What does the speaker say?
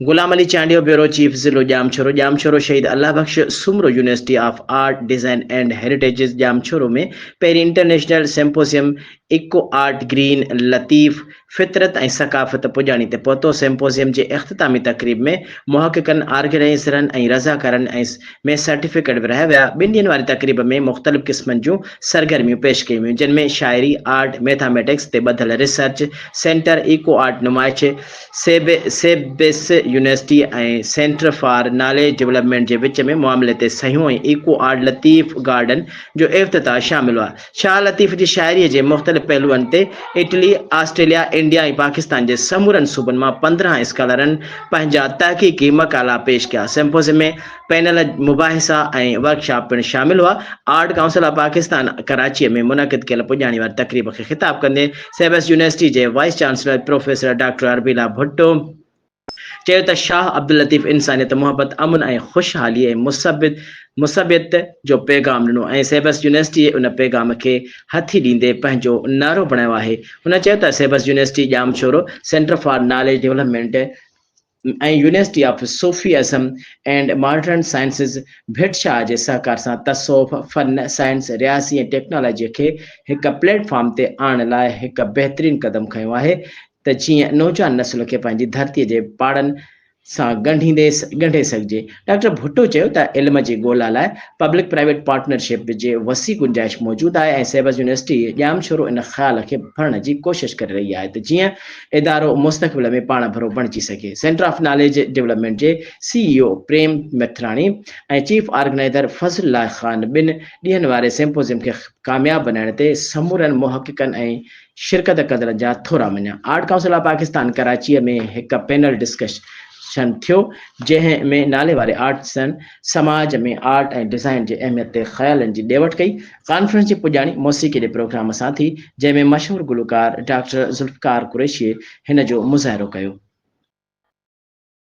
غلام Ali Chandio bureau chief ضلعو Jam Shoro Jam Shoro Shaheed Allah Bux Soomro university of art design and heritages Jam Shoro ۾ پهرين international symposium eco art green Latif فطرت ۽ ثقافت پڄاڻي تي پهتو سيمپوزيم جي اختتامي تقريب ۾ محققن، آرگنائيزرن ۽ رضاڪارن ۽ ۾ سرٽيفڪيٽ ورهايا ويا. ٻن ڏينهن واري تقريب ۾ مختلف قسمن جون سرگرميون پيش ڪيون ويون جن ۾ شاعري، آرٽ، ميٿاميٽڪس تي ٻڌل ريسرچ سينٽر، ايڪو آرٽ نمائش، سيب SABS university ۽ centre for knowledge development جي وچ ۾ معاملي تي صحيحون ۽ ايڪو آرٽ لطيف گارڊن جو افتتاح شامل هئا. شاهه لطيف جي شاعريء جي مختلف پهلوئن تي اٽلي، آسٽريليا، انڊيا ۽ پاڪستان جي سمورن صوبن مان پندرهن اسڪالرن پنهنجا تحقيقي مقالا پيش ڪيا. سمپوزيمي، پينل مباحثا ۽ ورڪشاپ پڻ شامل هئا. آرٽ ڪائونسل آف پاڪستان ڪراچيء ۾ منعقد ڪيل پڄاڻي واري تقريب کي خطاب ڪندي سيوس يونيورسٽي جي vice chancellor professor doctor Arabella Bhutto, چيو ته شاهه عبداللطيف انسانيت محبت، امن ۽ خوشحالي ۽ مثبت مثبيت جو پيغام ڏنو ۽ سيبس يونيورسٽيء ان پيغام کي هٿي ڏيندي پنهنجو نعرو بڻايو آهي. هن چيو ته SABS university Jamshoro centre for knowledge development ۽ university of Sufism and modern sciences Bhit Shah جي سهڪار سان تصوف، فن، سائنس، رياضي ۽ ٽيڪنالاجيء کي هڪ پليٽ فارم تي آڻڻ لاء هڪ بهترين قدم کنيو آهي، ته جيئن نوجوان نسل کي پنهنجي ڌرتيء جي پاڙن سان ڳنڍيندي ڳنڍي سگهجي. ڊاڪٽر ڀٽو چيو ته علم جي ڳولا لاء پبلڪ پرائيويٽ پارٽنرشپ جي وسيع گنجائش موجود آهي ۽ سيبز يونيورسٽي ڄامشورو ان خيال کي ڀرڻ جي ڪوشش ڪري رهي آهي ته جيئن ادارو مستقبل ۾ پاڻڀرو بڻجي سگهي سينٽر آف ناليج ڊولپمينٽ جي C E O Prem Mathrani ۽ chief organiser Fazal Allah Khan ٻن ڏينهن واري سيمپوزيم کي ڪامياب بنائڻ تي سمورن محققن ۽ شرڪت ڪندڙن جا ٿورا مڃيا. آرٽ ڪائونسل آف پاڪستان ڪراچيء ۾ هڪ پينل ڊسڪشن ٿيو، جنهن ۾ ناليواري آرٽسن سماج ۾ آرٽ ۽ ڊزائين جي اهميت تي خيالن جي ڏي وٺ ڪئي. ڪانفرنس جي پڄاڻي موسيقي جي پروگرام سان ٿي، جنهن ۾ مشهور گلوڪار ڊاڪٽر ذوالفقار قريشيء هن جو مظاهرو ڪيو.